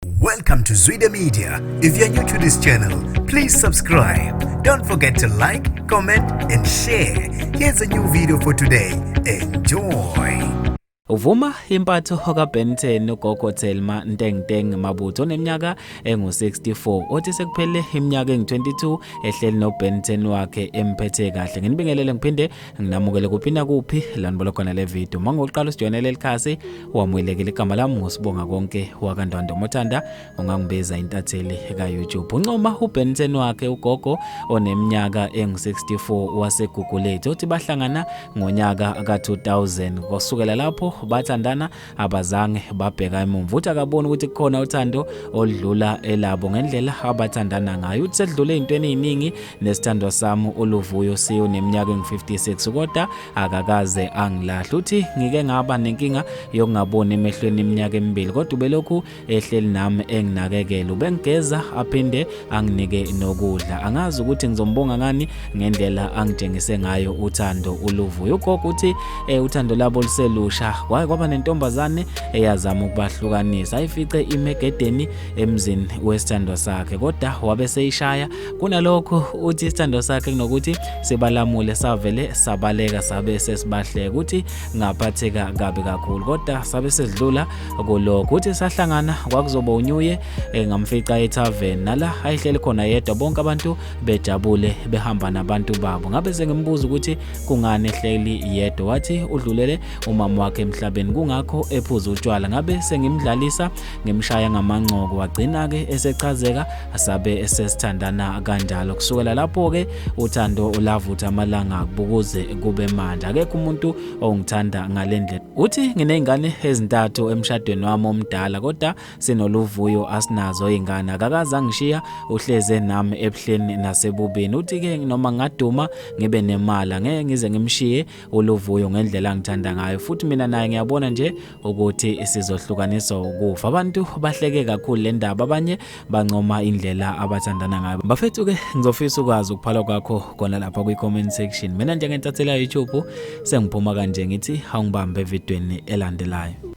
Welcome to Zwide Media. If you're new to this channel, please subscribe. Don't forget to like, comment and share. Here's a new video for today. Enjoy. Uvuma impatho kaBenton uGogo Thelma Ntengteng Mabutho oneminyaka engu-64 othi sekuphele iminyaka engu-22 ehleli noBenton wakhe emphethe kahle. Nginibingelele ngiphinde nginamukele kuphi nakuphi lanibona khona le video uma ngokuqala usijoyinela elikhasi wamuyelekela igama lami ngosibonga konke wakandwanda omothanda ungangibiza intatheli ka-youtube uncoma ubenson wakhe ugogo oneminyaka engu-64 wasegugulethu othi bahlangana ngonyaka ka-2000 kusukela lapho bathandana abazange babheka emumva uthi akaboni ukuthi kukhona uthando oludlula elabo ngendlela abathandana ngayo uthi sedlule ey'ntweni ey'ningi nesithandwa sami uluvuyo siyo neminyaka engu-56 kodwa akakaze angilahle uthi ngike ngaba nenkinga yokungaboni emehlweni iminyaka emibili kodwa ubelokhu ehleli nami enginakekela ubengigeza aphinde anginike nokudla angazi ukuthi ngizombonga ngani ngendlela angitshengise ngayo uthando uluvuyo ugogo uthi eh, uthando labo luselusha kwaye kwaba nentombazane eyazama ukubahlukanisa ayifice imegedeni emzini wesithandwa sakhe kodwa wabe seyishaya kunalokho uthi isithandwa sakhe kunokuthi sibalamule savele sabaleka sabe sesibahleka uthi ngaphatheka kabi kakhulu kodwa sabe sesidlula kulo kuthi sahlangana kwakuzoba unyuye eh, ngamfica etavern nala ayihleli khona yedwa bonke abantu bejabule behamba nabantu babo ngabe sengimbuza ukuthi kungani ehleli yedwa wathi udlulele umama wakhe emhlabeni kungakho ephuza utshwala ngabe sengimdlalisa ngimshaya ngamancoko wagcina ke esechazeka asabe esesithandana kanjalo kusukela lapho ke uthando ulavutha amalanga kubukuze kube manje akekho umuntu ongithanda ngalendlela uthi nginezingane ezintathu emshadweni wami omdala kodwa sinoluvuyo asinazo izingane akakaza ngishiya uhleze nami ebuhleni nasebubini uthi ke noma ngaduma ngibe nemali ngeke ngize ngimshiye uluvuyo ngendlela ngithanda ngayo futhi mina naye ngiyabona nje ukuthi sizohlukaniswa ukufa abantu bahleke kakhulu le ndaba abanye bancoma indlela abathandana ngayo bafethu ke ngizofisa ukwazi ukuphala kwakho khona lapha kwi-comment section mina njengentathela youtube sengiphuma kanje ngithi awungibambe evidweni elandelayo